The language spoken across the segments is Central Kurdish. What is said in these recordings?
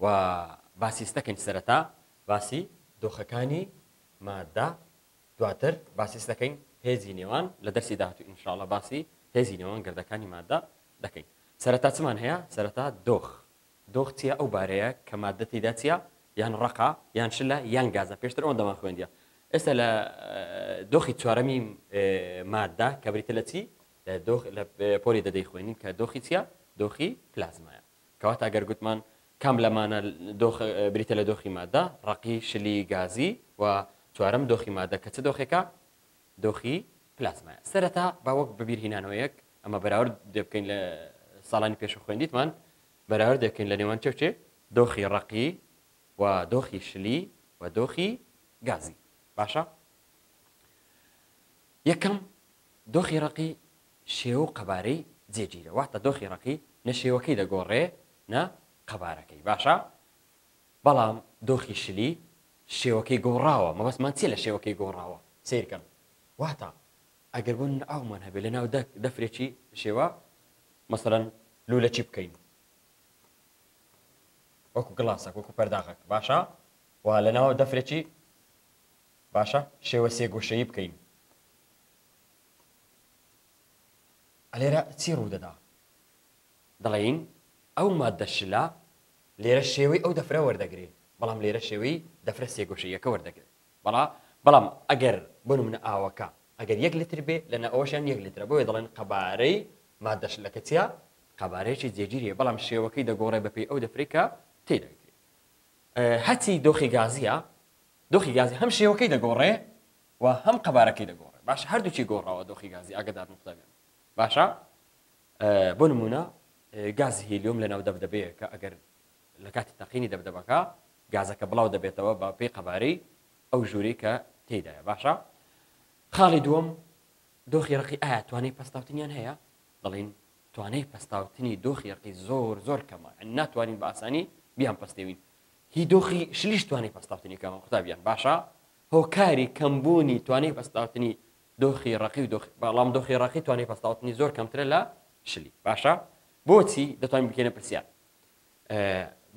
و باسی ستە کەین سەرەتا باسی دۆخەکانی مادە دواتر باسی ستەکەین هێزی نێوان لە دەرسی داهاتوو ئینشاءاللە باسی هێزی نێوان گردەکانی مادە دەکەین سەرەتا چمان هەیە سەرەتا دۆخ دۆخ چیە ئەو بارەیە کە مادە تێدا چیە یان ڕقا یان شلە یان گازە پێشتر ئەوەن دەمان خوێندە ئێستا لە دۆخی چوارەمی مادە کە بریتە لە چی لە دۆخ لە پۆلی دەدەی خوێنین کە دۆخی چیە دۆخی پلازمایە کەواتە گەر گوتمان کام لەمانە دۆخ بریتە لە دۆخی ماددە، ڕەقی، شلی، گازی، و چوارەم دۆخی ماددە کە چ دۆخێکە؟ دۆخی پلازمایە. سەرەتا با وەک بەبیرهینانەوەیەک ئەمە بەراورد دەبکەین لە ساڵانی پێشوو خوێندیتمان، بەراورد دەکەین لە نێوان چێ و چێ؟ دۆخی ڕەقی و دۆخی شلی و دۆخی گازی. باشە؟ یەکەم، دۆخی ڕەقی شێوە و قەبارەی جێگیرە واتە دۆخی ڕەقی نە شێوەکەی دەگۆڕێ نە قەبارەکەی باشە بەڵام دۆخی شلی شێوەکەی گۆڕاوە مەبەستمان چیە لە شێوەکەی گۆڕاوە سەیرکەن واتە ئەگەر بۆ نمونە ئاومان هەبێ لەناو دە دەفرێکی شێوە مەسەلەن لوولەکی بکەین وەکو گڵاسەک وەکو پەرداغەک باشە و لەناو دەفرێکی باشە شێوە سێگۆشەیی بکەین لێرە چی ڕوودەدا؟ دەڵێین ئەو ماددە شلە لێرە شێوەی ئەو دەفرە وەردەگرێ، بەڵام لێرە شێوەی دەفرە سێگۆشەییەکە وەردەگرێ. بەڵا بەڵام ئەگەر بۆ نموونە ئاوەکە ئەگەر یەک لتر بێ، لەنا ئەوەشیان یەک لترە، بۆیە دەڵێن قەبارەی ماددە شلەکە چییە؟ قەبارەیەکی جێگیرییە، بەڵام شێوەکەی دەگۆڕێ بەپێی ئەو دەفرەی کە تێیداگرێ. هەرچی دۆخی گازییە، دۆخی گازی هەم شێوەکەی دەگۆڕێ، و هەم قەبارەکەی دەگۆڕێ باشە هەردووکی گۆڕاوە دۆخی گازی ئاگدار نوختەبێن باشە بۆ نمونە گازی هیلیۆم لە ناو دەبدەبەیە کە ئەگەر لە کاتی تەقینی دەبدەبەکە گازەکە بڵاو دەبێتەوە بە پێی قەبارەی ئەو ژووری کە تێدایە باشە خاڵی دووەم دۆخی ڕقی ئایا توانای پستاوتنیان هەیە دەڵین توانای پستاوتنی دۆخی ڕقی زۆر زۆر کەمە ناتوانین بە ئاسانی بیان پستێوین هی دۆخی شلیش توانانی پستاوتنی کەمە قوتابیان باشە هۆکاری کەمبوونی توانای پەستاوتنی دۆخی ڕەقی و دۆخی بەڵام دۆخی ڕەقی توانای پەستاوتنی زۆر کەمترە لە شلی باشە بۆچی دەتوانین بکەینە پرسیار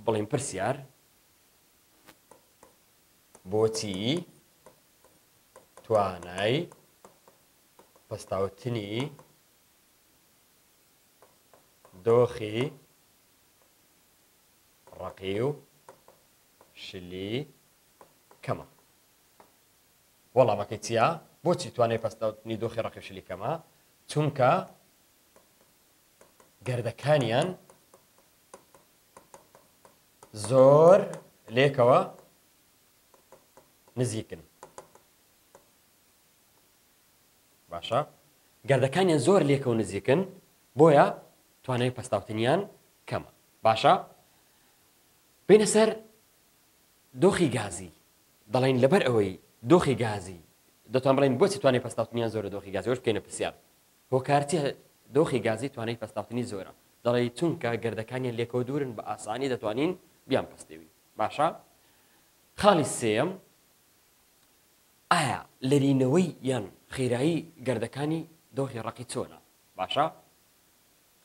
بڵین پرسیار بۆچی توانای پەستاوتنی دۆخی ڕقی و شلی کەمە. وەڵامەکەی چیە؟ بۆچی توانای پەستاوتنی دۆخی ڕەقی شلی کەمە؟ چونکە گردەکانیان زۆر لێکەوە نزیکن باشە گردەکانیان زۆر لێکە و نزیکن بۆیە توانای پەستاوتنیان کەمە باشە بینە سەر دۆخی گازی، دەڵێن لەبەر ئەوەی دۆخی گازی، دەتان بڵێن بۆچی توانای پەستاوتنیان زۆرە دۆخی گازی ئەوەش بکەینە پرسیار هۆکارچیە دۆخی گازی توانای پەستاوتنی زۆرە دەڵێی چونکە گردەکانیان لێکەوە دوورن بە ئاسانی دەتوانین بیان پەستێوین باشە خاڵی سێەم ئایا لەرینەوەی یان خێرایی گردەکانی دۆخی ڕقی چۆنە باشە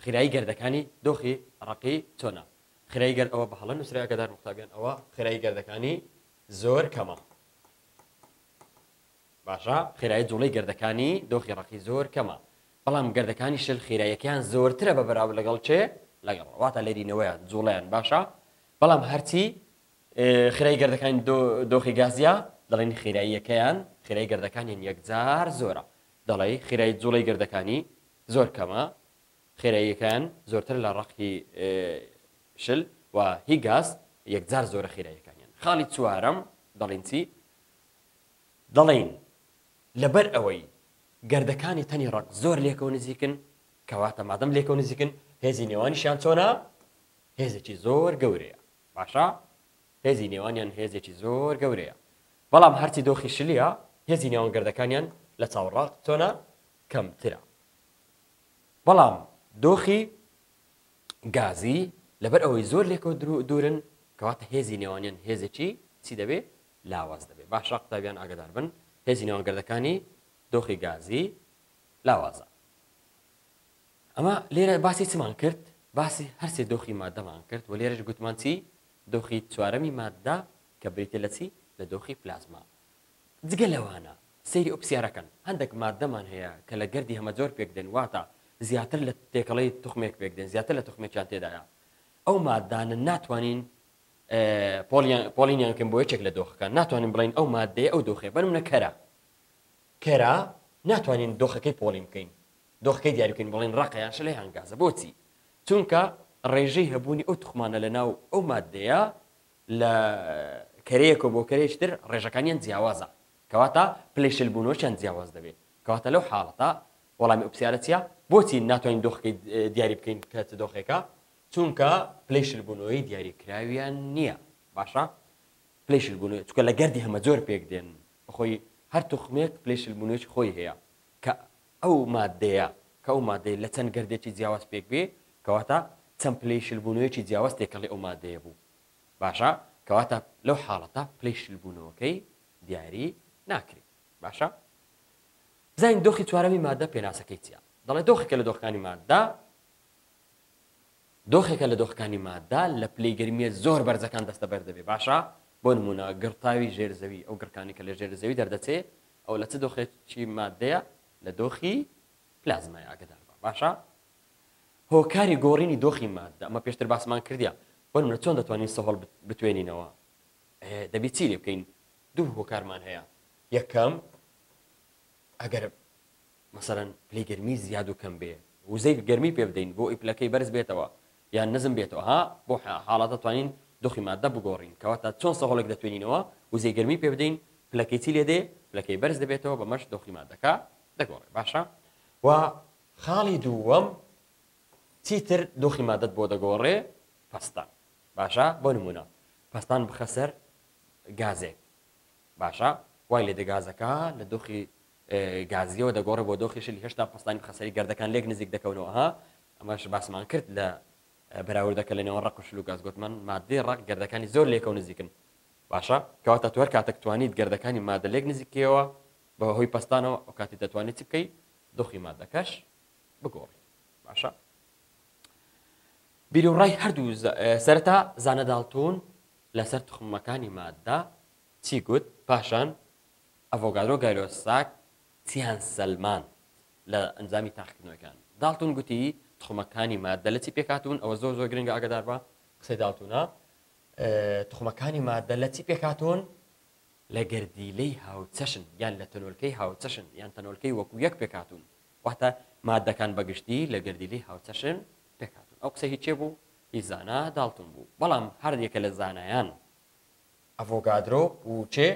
خێرایی گەردەکانی دۆخی ڕەقی چۆنە؟ خێرایی گەرد ئەوە بەهەڵە نووسرایە کە دار موختابیان ئەوە خێرایی گەردەکانی زۆر کەمە باشە خێرایی جوڵەی گەردەکانی دۆخی ڕەقی زۆر کەمە بەڵام گەردەکانی شل خێرایەکەیان زۆرترە بە بەراو لەگەڵ چێ لەگەڵ واتە لێرینەوەیان جوڵیان باشە بەڵام هەرچی خێرای گردەکانی دۆخی گازیا دەڵێن خێراییەکەیان خێرای گردەکانیان یەکجار زۆرە دەڵێ خێرای جوڵی گردەکانی زۆر کەمە خێراییەکەیان زۆرتر لە ڕەق هی شل و هی گاز یەکجار زۆرە خێراییەکانیان خاڵی چوارەم دەڵین چی دەڵین لەبەر ئەوەی گردەکانی تەنی ڕەق زۆر لێکەوە نزیکن کەواتە مادەم لێکەوە نزیکن هێزی نێوانیشیان چۆنا هێزێکی زۆر گەورەیە باشە هێزی نێوانیان هێزێکی زۆر گەورەیە بەڵام هەرچی دۆخی شلیە هێزی نێوان گردەکانیان لە چاوڕاق چۆنا کەمترە بەڵام دۆخی گازی لەبەر ئەوەی زۆر لێکەوە دوورن کەواتە هێزی نێوانیان هێزێکی چی دەبێ لاواز دەبێ باشە قوتابیان ئاگدار بن هێزی نێوانگردەکانی دۆخی گازی لاوازە ئەمە لێرە باسی چمان کرد باسی هەرسێ دۆخی مادەمان کرد و لێرەش گوتمان چی دۆخی چوارەمی مادە کە بریتە لە چی لە دۆخی پلازما جگە لەوانە سەیری ئەو پرسیارە کەن، هەندێک ماددەمان هەیە کە لە گەردی هەمەجۆر پێکدێن، واتە زیاتر لە تێکەڵەی توخمێک پێکدێن، زیاتر لە توخمێکیان تێدایە، ئەو ماددانە ناتوانین پۆڵینیان بکەین بۆ یەکێک لە دۆخەکان، ناتوانین بڵێین ئەو ماددەیە ئەو دۆخەیە، بۆ نموونە کەرە، کەرە ناتوانین دۆخەکەی پۆڵین بکەین، دۆخەکەی دیاری بکەین بڵێین ڕەقە یان شلە یان گازە، بۆچی؟ چونکە ڕێژەی هەبوونی ئەو توخمانە لەناو ئەو ماددەیە لە کەرەیەکەوە بۆ کەرەیەکی تر ڕێژەکانیان جیاوازە کەواتە پلەی شلبوونەوەشیان جیاواز دەبێت کەواتە لەو حاڵەتە وەڵامی ئەو پرسیارە چیە بۆچی ناتوانین دۆخەکەی دیاری بکەین کە چ دۆخێکە چونکە پلەی شلبوونەوەی دیاریکراویان نییە باشە پلەی شلبوونەوە چکە لە گەردی هەمە جۆر پێک دێن بەخۆی هەر توخمێک پلەی شلبوونەوەی خۆی هەیە کە ئەو ماددەیە کە ئەو ماددەیە لە چەند گەردێکی جیاواز پێک بێ کەواتە چەند پلەی شلبوونەوەیەکی جیاواز تێکەڵی ئەو ماددەیە بوو باشە کەواتە لەو حاڵەتە پلەی شلبوونەوەکەی دیاری ناکرێ باشە بزانین دۆخی چوارەمی ماددە پێناسەکەی چیە دەڵێ دۆخێکە لە دۆخەکانی ماددە دۆخێکە لە دۆخەکانی ماددە لە پلەی گەرمیە زۆر بەرزەکان دەستە بەردەبێ باشە بۆ نمونە گڕتاوی ژێر زەوی ئەو گڕکانی کە لە ژێر زەوی دەردەچێ ئەوە لە چ دۆخێکی ماددەیە؟ لە دۆخی پلازمای ئاگەدار بە باشە هۆکاری گۆڕینی دۆخی ماددە ئەمە پێشتر باسمان کردیا بۆ منە چۆن دەتوانین سەهۆڵ بتوێنینەوە دەبی چی لێ بکەین دوو هۆکارمان هەیە یەکەم ئەگەر مەسەلەن پلەی گەرمی زیاد و کەم بێ وزەی گەرمی پێ بدەین بۆ ئەوەی پلەکەی بەرز بێتەوە یان نزم بێتەوە ها بۆ حاڵەت دەتوانین دۆخی ماددە بگۆڕین کەواتە چۆن سەهۆڵێک دەتوێنینەوە وزەی گەرمی پێ بدەین پلەکەی چی لێ دێ پلەکەی بەرز دەبێتەوە بەمەش دۆخی ماددەکە دەگۆڕێ باشە و خاڵی دووەم چیتر دۆخی مادەت بۆ دەگۆڕێ پەستان باشە بۆ نمونە پەستان بخەسەر گازێک باشە وای لێ دەگازەکە لە دۆخی گازییەوە دەگۆڕێ بۆ دۆخی شل هێشتا پەستانی بخەسەری گەردەکان لێک نزیک دەکەونەوە ها ئەمەش باسمان کرد لە بەراوردەکە لەنێوان ڕق و شل و گاز گوتمان مادەی ڕق گەردەکانی زۆر لێکە و نزیکن باشە کەواتە تو هەر کاتێک توانیت گەردەکانی مادە لێک نزیکەوە بە هۆی پەستانەوە ئەو کاتی دەتوانیت چ بکەی دۆخی مادەکەش بگۆڕی باشە بیرورای هەردوو سەرەتا زانەداڵتون لەسەر تخمەکانی مادە چی گوت پاشان ئەڤۆگادرۆ گایلۆساک چییان سەلماند لە ئەنجامی تاقیکردنەوەکان؟ داڵتون گوتی توخمەکانی ماددە لە چی پێکهاتوون؟ ئەوە زۆر زۆر گرنگە ئاگادار بە قسەی داڵتونە توخمەکانی ماددە لە چی پێکهاتوون؟ لە گەردیلەی هاوچەشن یان لە تەنۆلکەی هاوچەشن یان تەنۆلکەی وەکو یەک پێکهاتوون واتە ماددەکان بە گشتی لە گەردیلەی هاوچەشن پێکهاتوون ئەو قسە هی کێ بوو؟ هی زانا داڵتون بوو بەڵام هەر یەکە لە زانایان ئەڤۆگادرۆ و چێ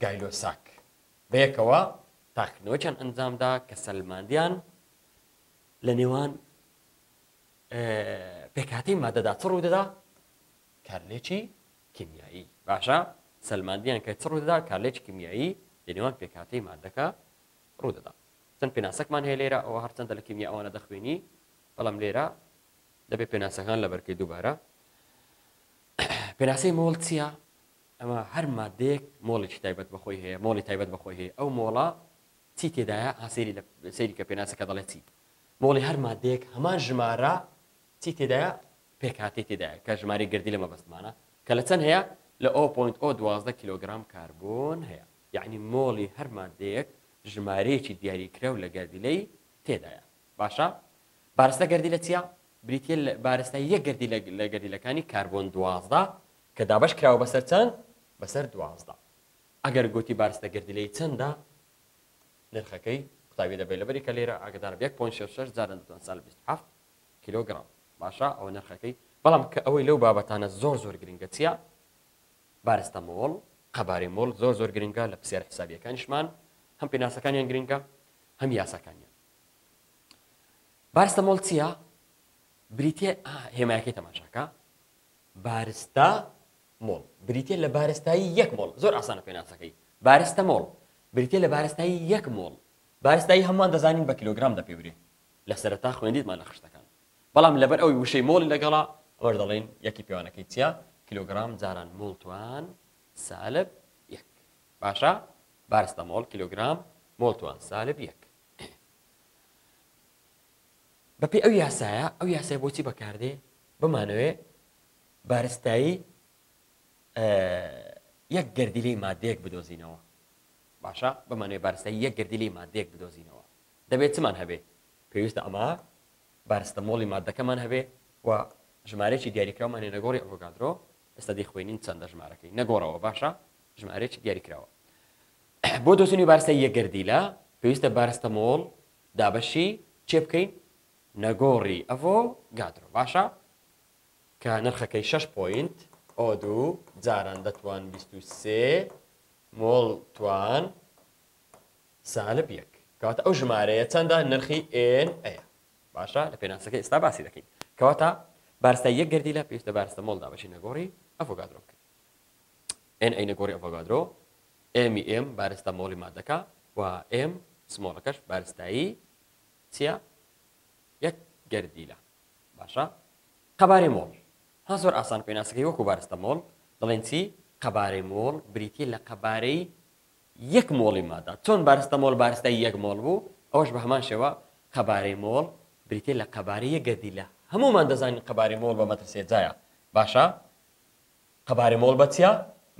گایلۆ ساک بەیەکەوە تاقیکردنەوەیەکیان ئەنجامدا کە سەلماندیان لە نێوان پێکهاتەی مادەدا چ ڕوودەدا کارلێکی کیمیایی باشە سەلماندیان کە چ ڕوودەدا کارلێکی کیمیایی لە نێوان پێکهاتەی مادەکە ڕوودەدا چەند پێناسەکمان هەیە لێرە ئەوە هەرچەندە لە کیمیا ئەوانە دەخوێنی بەڵام لێرە دەبێت پێناسەکان لە بەرکەی دووبارە پێناسەی مۆڵ چیە؟ ئەمە هەر ماددەیەک مۆڵێکی تایبەت بە خۆی هەیە، مۆڵی تایبەت بە خۆی هەیە، ئەو مۆڵە چی تێدایە؟ ها سەیری لە سەیری کە پێناسەکە دەڵێت چی؟ مۆڵی هەر ماددەیەک هەمان ژمارە چی تێدایە؟ پێکهاتەی تێدایە کە ژمارەی گردی لە مەبەستمانە کە لە چەند هەیە؟ لە ئۆ پۆینت ئۆ دوازدە کیلۆگرام کاربۆن هەیە. یەعنی مۆڵی هەر ماددەیەک ژمارەیەکی دیاریکراو لە گەردیلەی تێدایە. باشە بارستە گەردیلە چیە؟ بریتیە لە بارستای یەک گەردیلە لە گەردیلەکانی کاربۆن دوازدە کە دابەش کراوە بەسەر چەند؟ بەسەر دوازدە. ئەگەر گۆتی بارستە گەردیلەی چەندە؟ نرخەکەی قوتابی دەبێت لەبەری کە لێرە ئاگدارە یەک پۆن شەش شەش جارە دەتوان سال بیست هەفت کیلۆگرام باشە ئەوە نرخەکەی بەڵام کە ئەوەی لەو بابەتانە زۆر زۆر گرنگە چیە؟ بارستە مۆڵ قەبارەی مۆڵ زۆر زۆر گرنگە لە پسیار حسابیەکانیشمان هەم پێناسەکانیان گرنگە هەم یاساکانیان بارستەمۆڵ چیە؟ بریتیە هێمایەکەی تەماشاکە بارستە مۆڵ بریتە لە بارستایی یەک مۆڵ زۆر ئاسانە پێناسەکەی بارستە مۆڵ بریتە لە بارستایی یەک مۆڵ بارستایی هەمان دەزانین بە کیلوگرام دەپێورێ لە سەرتا خوێندیتمان لە خشتەکان بەڵام لەبەر ئەوی وشەی مۆڵی لەگەڵا ئەوەش دەڵێن یەکی پێوانەکەی چیە کیلوگرام جاران مۆڵتوان سالب یەک باشە بارستە مۆڵ کیلوگرام مۆڵتوان سالب یەک بەپێی ئەو یاسایە، ئەو یاسای بۆچی بەکاردێ بمانەوێ بارستایی یەک گردیلی مادەیەک بدۆزینەوە باشە بمانەوێ بارستایی یەک گردیلی مادەیەک بدۆزینەوە دەبێت چمان هەبێ پێویستە ئەمە بارستە مۆڵی مادەکەمان هەبێ و ژمارەێکی دیاریکراومانێ نەگۆڕی ئۆڤۆگادرۆ ئێستا دەیخوێنین چەندە ژمارەکەی نەگۆڕەوە باشە ژمارەێکی دیاریکراوە بۆ دۆزینی بارستای یەک گەردیلە پێویستە بارستەمۆڵ دابەشی کێ بکەین؟ نەگۆڕی ئەڤۆ گادرۆ باشە کە نرخەکەی شەش پۆینت ئۆ دوو جاران دەتوان بیست و سێ مۆڵ توان سالب یەک کەواتە ئەو ژمارەیە چەندە نرخی ئێن ئەیە باشە لە پێناسەکە ئێستا باسی دەکەین کەواتە بارستای یەک گەردیلە پێویستە بارستە مۆڵدا بەشی نەگۆڕی ئەفۆگادرۆ بکەین ئێن عەینە گۆڕی ئەڤۆگادرۆ، ئێمی ئێم بارستا مۆڵی مادەکە و ئێم سمۆڵەکەش بارستایی چییە؟ یەک گەردیلە. باشە قەبارەی مۆڵ ها زۆر ئاسان پێناسەکەی وەکو بارستە مۆڵ دەڵێن چی قەبارەی مۆڵ بریتی لە قەبارەی یەک مۆڵی مادا چۆن بارستە مۆڵ بارستای یەک مۆڵ بوو ئەوش بە هەمان شێوە قەبارەی مۆڵ بریتێ لە قەبارەیە گەردی لە هەمومان دەزانین قەبارەی مۆڵ بە مەترسێجایە باشە قەبارە مۆڵ بەچیا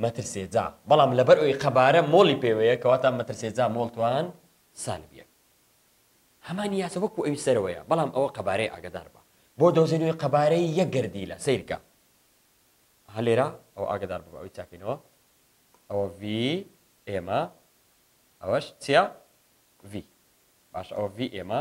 مەترسێجا بەڵام لەبەر ئەوی قەبارە مۆڵی پێوەیە کەواتە مەترسێجا مۆڵ توان سالب یەک هەمان یاسە وەکو ئەوی سەرەوەیە بەڵام ئەوە قەبارەی ئاگدار بە بۆ دەوزێنەوەی قەبارەی یەک گردیلە سیرکە هەلێرا ئەو ئاگدار بە ئەوی چاکەینەوە ئەوە وی ئێمە ئەوەش چیا وی باش ئەوە وی ئێمە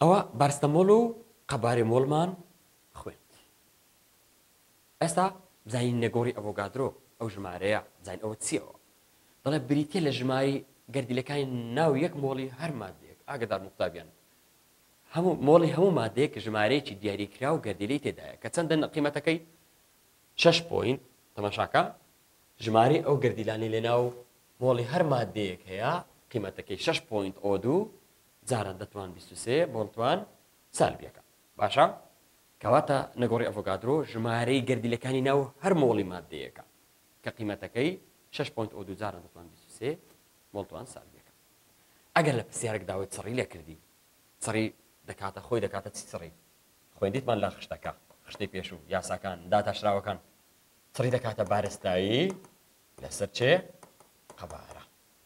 ئەوا بارستەمۆڵ و قەبارێمۆڵمان خوێند. ئێستا بزانین نێگۆڕی ئەڤۆگادرۆ، ئەو ژمارەیە، بزانین ئەوە چییە؟ ئەوە دەڵێت بریتییە لە ژمارەی گەردیلەکانی ناو یەک مۆڵی هەر ماددەیەک، ئاگادارن قوتابیان، هەموو مۆڵی هەموو ماددەیەک ژمارەیەکی دیاریکراو گەردیلەی تێدایە، کە چەندە قیمەتەکەی؟ شەش پۆینت، تەماشاکە، ژمارەی ئەو گەردیلانەی لەناو مۆڵی هەر ماددەیەک هەیە، قیمەتەکەی شەش پۆینت ئۆ دوو، جاران دەتوان بیست و سێ بۆڵتوان سالبیەکە باشە کەواتە نەگۆڕی ئەڤۆگادرۆ ژمارەی گەردیلەکانی ناو هەر مۆڵی ماددەیەکە کە قیمەتەکەی شەش پۆنت ئۆدو جاران دەتوان بیست و سێ بۆڵتوان سالبیەکە ئەگەر لە پرسیارێک داوای چڕی لێ کردی چڕی دەکاتە خۆی دەکاتە چی چڕی خوێندیتمان لە خشتەکە خشتەی پێشوو یاساکان داتاشراوەکان چڕی دەکاتە بارستایی لەسەر چێ قەبارە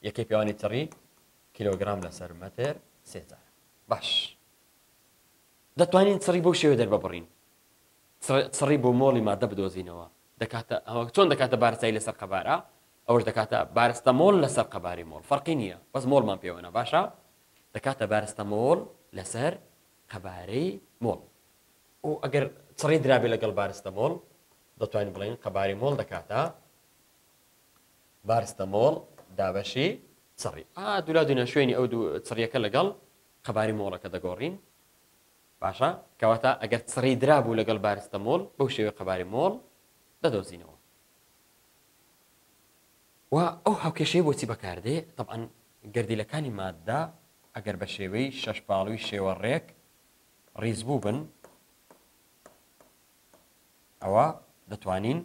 یەکەی پێوانی چڕی کیلۆگرام لەسەر مەتر سێ جار. باش دەتوانین چڕی بەو شێوە دەرببڕین چڕی بۆ مۆڵی مادە بدۆزینەوە دەکاتە ئەوە چۆن دەکاتە بارسایی لەسەر قەبارە ئەوش دەکاتە بارستە مۆل لەسەر قەباری مۆڵ فەرقی نییە بەس مۆڵمان پێوەە باشە دەکاتە بارستە مۆڵ لەسەر قەبارەی مۆڵ و ئەگەر چڕی درابێ لەگەڵ بارستە مۆڵ دەتوانین بڵێن قەباری مۆڵ دەکاتە بارستەمۆڵ، دابەشی چڕی. ئا دولا دونا شوێنی ئەو دوو چڕیەکە لەگەڵ قەباری مۆڵەکە دەگۆڕین. باشە کەواتە ئەگەر چڕی درابوو لەگەڵ بارستەمۆڵ بەو شێوەی قەباری مۆڵ دەدۆزینەوە. و ئەو هاوکێشەی بۆچی بەکاردێ تەبعەن گەردیلەکانی ماددە ئەگەر بە شێوەی شەش پاڵوی شێوە ڕێک ڕیز بوو بن ئەوە دەتوانین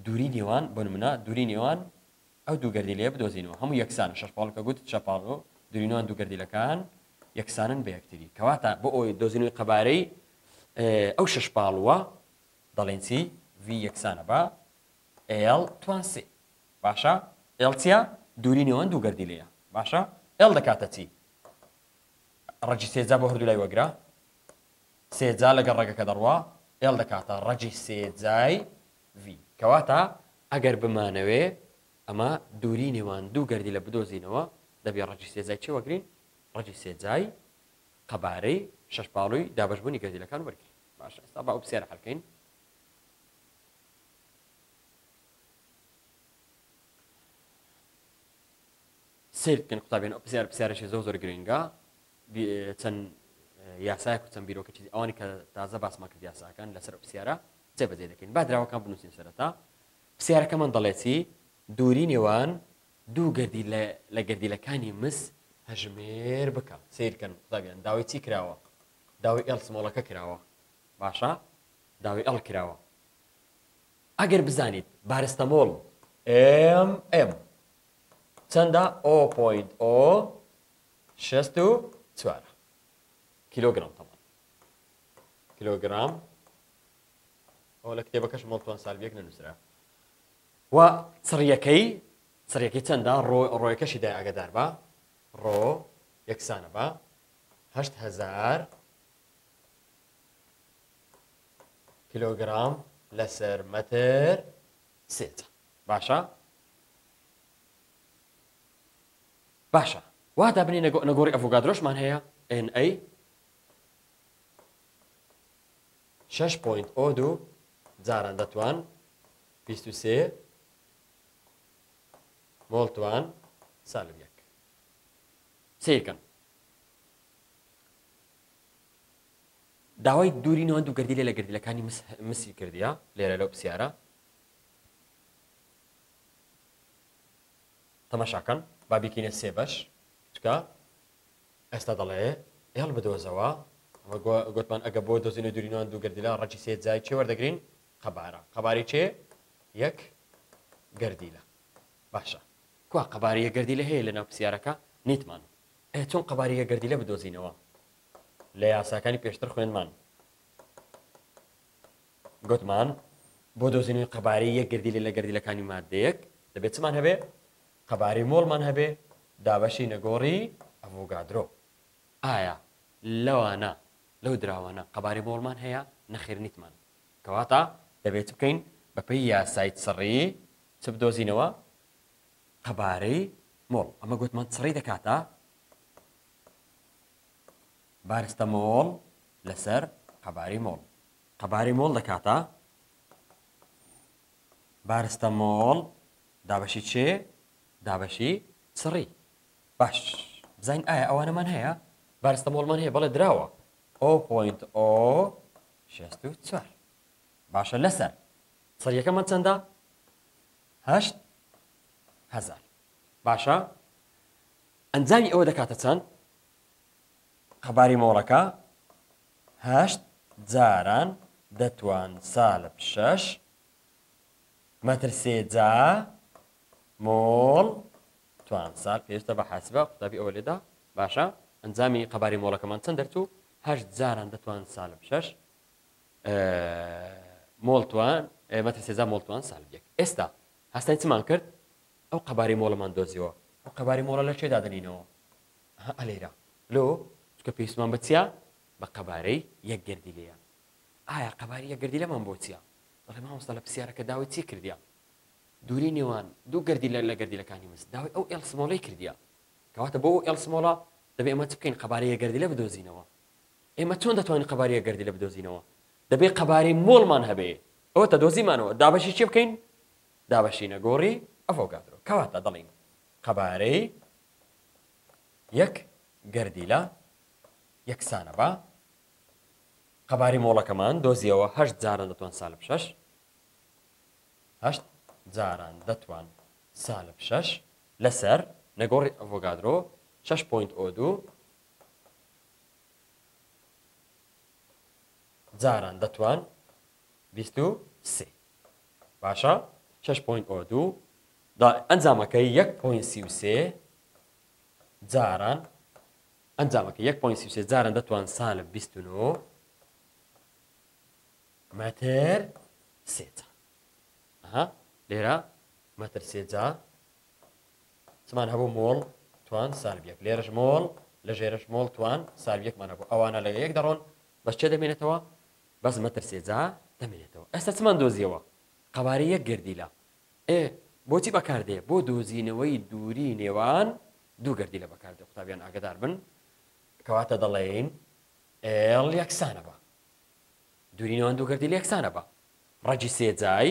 دووری نێوان، بۆ نمونە، دووری نێوان ئەو دوو گەردیلەیە بدۆزینەوە، هەموو یەکسانن، شەشپاڵ کە گوت، چەپاڵۆ، دووری نێوان دوو گەردیلەکان یەکسانن بە یەکتری، کەواتە بۆ ئەوەی دۆزینەوەی قەبارەی ئەو شەشپاڵووە دەڵێین چی؟ V یەکسانە بە L توان سێ، باشە؟ L چیە؟ دووری نێوان دوو گەردیلەیە، باشە؟ L دەکاتە چی؟ ڕەگی سێ جا بۆ هەردوو لای وەگرە. سێ جا لەگەڵ ڕەگەکە دەڕوا ئێڵ دەکاتە ڕەگی سێ جای ڤی کەواتە ئەگەر بمانەوێ ئەمە دووری نێوان دوو گەردی لە بدۆزینەوە دەبێ ڕەگی سێ جای چی وەگرین ڕەگی سێ جای قەبارەی شەش باڵوی دابەشبوونی گەردیلەکان وەرگین باشە ئێستا بە ئەو پسێرە حەلکەین سیر بکەن قوتابیان ئەو پسیار پسیارێکی زۆر زۆر گرنگە چەند یاسایەک و چەند بیرۆکەی چیدی ئەوانی کە تازە باسمان کرد یاساکان لەسەر ئەو پرسیارە جێبەجێ دەکەین با دراوەکان بنووسین سەرەتا پرسیارەکەمان دەڵێت چی دووری نێوان دوو گردی لە گردیلەکانی مس هەژمێر بکە سیرکەن قوتابیان داوای چی کراوە داوای ئێڵ سمۆڵەکە کراوە باشە داوای ئەڵ کراوە ئەگەر بزانیت بارستەمۆڵ ئم ئم چەندە ئۆ پوینت ئۆ شەست و چوار کیلۆگرام تەمان کیلۆگرام ئەوە لە کتێبەکەش مڵتوان سالبیەک نەنووسرا و چڕیەکەی چڕیەکەی چەندە ڕۆیەکەشی دای ئەگەدار بە ڕۆ یەکسانە بە هزار کیلۆگرام لەسەر مەتر سێت باشە باشە وا دابنێ نە نەگۆڕی ئەڤۆگادرۆشمان هەیە ئێن ئەی شەش پۆینت ئۆ دوو جاران دەتوان بیست و سێ مۆڵتوان سالب یەک سیرکەن داوای دووری نەوە دوو گردی لێ لە گردلەکانی مسی کردیا لێرە لەو پرسیارە تەماشاکەن با بیکەینە سێ بەش چکە ئێستا دەڵێ ئێڵ بدۆزەوە وە گوتمان ئەگە بۆ دۆزینە دوورینوان دوو گردیلا ڕەجی سێ جای چێ وەردەگرین قەبارە قەباری چێ یەک گردیلە باشە کوا قەباریە گردی لە هەیە لە ناو پرسیارەکە نیتمان ئە چۆن قەباریە گردی لە بدۆزینەوە لە یاساکانی پێشتر خوێنمان گوتمان بۆ دۆزینەوەی قەبارەی یەک گەردیلە لە گەردیلەکانی ماددەیەک دەبێت چمان هەبێ قەبارەی مۆڵمان هەبێ دابەشی نەگۆڕی ئەڤۆگادرۆ ئایا لەوانە لەو دراوانە قەبارەی مۆڵمان هەیە نەخێر نیتمان کەواتە دەبێت بکەین بەپی یاسای سڕی چ بدۆزینەوە قەبارەی مۆڵ ئەمە گوتمان سڕی دەکاتە بارستە مۆڵ لەسەر قەبارەی مۆڵ قەبارەی مۆڵ دەکاتە بارستە مۆڵ دابەشی چێ دابەشی سڕی باش بزین ئایا ئەوانەمان هەیە بارستە مۆڵمان هەیە بەڵێ دراوە ئۆ پوینت ئۆ شێست و چوار باشە لەسەر سەریەکەمان چەندە هەشت هەزار باشە ئەنجامی ئەوە دەکاتە چەند قەباری مۆڵەکە هەشت جاران دەتوان سالب شەش مەتر سێ جا مۆڵ توان سال پێویستە بە حاسبە قوتابی ئەوە لێدا باشە ئەنجامی قەباری مۆڵەکەمان چەند دەرچوو هەشت جاران دەتوان سالب شەش مۆڵتوان مەتر سێزا مۆڵتوان سالبێک ئێستا هەستای چمان کرد ئەو قەباری مۆڵەمان دۆزیەوە ئەو قەباری مۆڵە لە چێدا دەنینەوە ئەها ئەلێرە لۆ چکە پێویستمان بە چیە بە قەبارەی یەک گەردیلەیە ئایا قەبارەی یەک گەردیلەمان بۆ چیە دەڵێ مامۆستا لە پسیارەکە داوای چی کردیە دوری نێوان دوو گەردیلە لە گەردیلەکانی مس داوای ئەو ئێڵ سمۆڵەی کردیە کەواتە بۆ ئەو ئێڵ سمۆڵە دەبێ ئێمە چ بکەین قەبارەی یەک گەردیلە بدۆزینەوە ئێمە چۆن دەتوانین قەبارەی یەک گەردیلە بدۆزینەوە دەبێ قەبارەی مۆڵمان هەبێ ئەوەتە دۆزیمانەوە دابەشی چی بکەین دابەشینە گۆڕی ئەڤۆگادرۆ کەواتە دەڵێین قەبارەی یەک گەردیلە یەکسانە بە. قەبارەی مۆڵەکەمان دۆزیەوە هەشت جاران دەتوان سالب شەش هەشت جاران دەتوان سالب شەش لەسەر نەگۆڕی ئەڤۆگادرۆ شەش پوینت ئۆ دوو جاران دەتوان بیست و سێ باشە شەش پۆینت ئۆ دوو دا ئەنجامەکە یەک پۆینت سی و سێ جاران ئەنجامەکە یەک پۆینت سی و سێ جاران دەتوان سالب بیست و نۆ مەتر سێ جار ئەها لێرە مەتر سێ جار چمان هەبوو مۆڵ توان سالب یەک لێرەش مۆڵ لە ژێرەش مۆڵ توان سالب یەکمان هەبوو ئەوانە لە یەک دەڕۆن بەس چێ دەمێنێتەوە بەس مەترسێ جا دەمێنێتەوە ئێستا چمان دۆزیەوە قەوارەی یەک گەردیلە ئێ بۆچی بەکاردێ بۆ دۆزینەوەی دووری نێوان دوو گەردیلە بەکاردێ قوتابیان ئاگدار بن کەواتە دەڵێین ئێڵ یەکسانە بە دووری نێوان دوو گەردیلە یەکسانە بە ڕەجی سێجای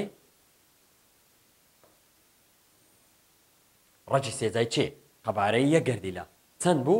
ڕەجی سێجای چێ قەبارەی یەک گەردیلە چەند بوو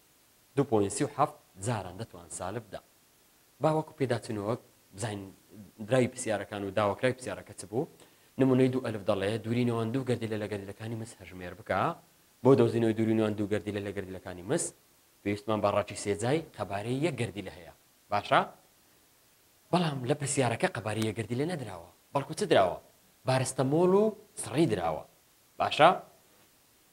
دوو پۆینت سی و حەفت جاران دەتوان سالب دا با وەکو پێداچونەوەک بزانین دراوی پرسیارەکان و داوەکراوی پرسیارەکە چ بوو نمونەی دوو ئەلف دەڵێ دووری نێوان دوو گردیلە لە گردیلەکانی مس هەژمێر بکە بۆ دۆزینەوەی دووری نێوان دوو گردیلە لە گردیلەکانی مس پێویستمان بە ڕاچی سێجای قەبارەی یەک گردیلە هەیە باشە بەڵام لە پرسیارەکە قەبارەی یە گردیلە نەدراوە بەڵکو چ دراوە بارستەمۆڵ و سڕی دراوە باشە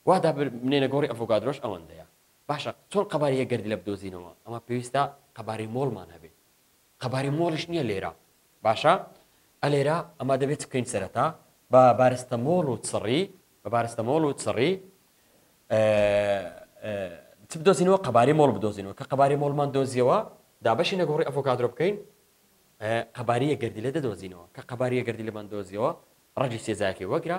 وا دابر بنێنە گۆڕی ئەڤۆگادرۆش ئەوەندەیە باشە چۆن قەبارەی یەک گەردیلە بدۆزینەوە ئەمە پێویستە قەبارەی مۆڵمان هەبێ قەبارەی مۆڵیش نییە لێرە باشە ئە لێرە ئەمە دەبێت چ بکەین سەرەتا بە بارستە مۆڵ و چڕی بە بارستە مۆڵ و چڕی چ بدۆزینەوە قەبارەی مۆڵ بدۆزینەوە کە قەبارەی مۆڵمان دۆزیەوە دابەشی نەگۆڕی ئەڤۆکادرۆ بکەین قەباریە گردیلە دەدۆزینەوە کە قەباریە گردیلەمان دۆزیەوە ڕەجی سێزاکی وەگرە